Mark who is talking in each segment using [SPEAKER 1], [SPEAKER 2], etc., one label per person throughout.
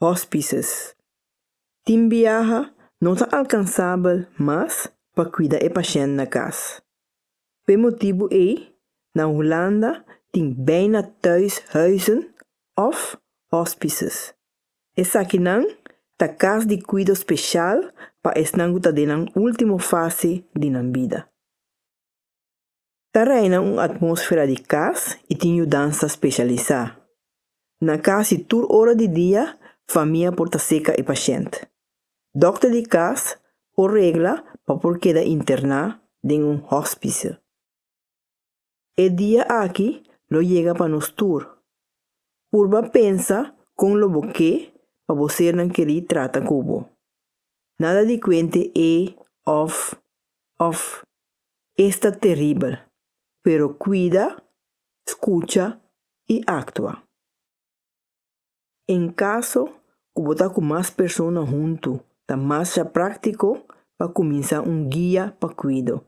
[SPEAKER 1] hospices. Tin biaha no ta alkansabel mas pa kuida e pashènt na kas. P'e motibu ei, na Hulanda tin bijna thuis huizen òf hospices. Esakinan ta kas di kuido spesial pa esnan ku ta den nan último fase di nan bida. Ta reina un atmósfera di kas i tin yudansa spesialisá. Na kasi tur ora di dia famia por ta serka e pashent. Dòkter di kas por regla pa por keda interná den un hòspise. E dia aki lo yega pa nos tur. Purba pensa kon lo bo ke pa bo sernan kerí trata ku bo. Nada di kuente e òf òf Esta teribel, pero cuida, scucha i actua. En caso cu bo ta cu mas persona huntu, ta masha practico pa cuminsa un guia pa cuido.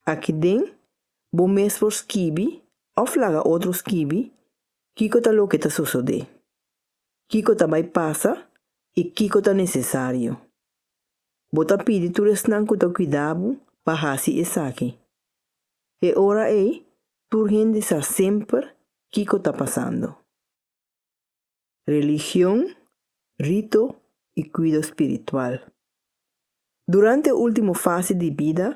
[SPEAKER 1] Aki den bo mes por skibi of laga otro skibi kico ta loke ta sosode, kico ta bay pasa i kico ta necesario. Bo ta pidi tur esnan ku ta kuidá bo pa hasi esaki. E ora ei tur hende sa semper kiko ta pasando. Religion, rito i kuido spiritual. Durante e último fase di bida,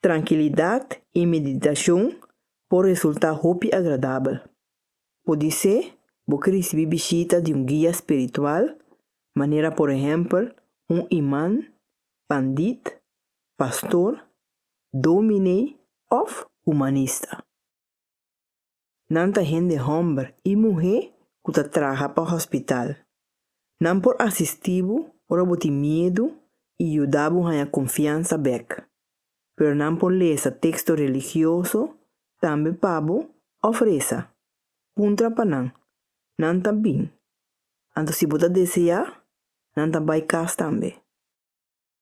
[SPEAKER 1] trankilidat i meditashon por resultá hopi agradabel. Podisé bo ke risibí bishita di un guia spiritual, manera por ehèmpel un imán, pandit, pastor, dómine òf humanista. Nan ta hende hòmber i muhé ku ta traha pa hòspital. Nan por asistí bo ora bo tin miedu i yuda bo haña konfiansa bèk. pero nan por lesa texto religioso tambe pa bo of resa. Puntra pa nan, nan ta bin. Anto si bo ta deseá, nan ta bai cas tambe.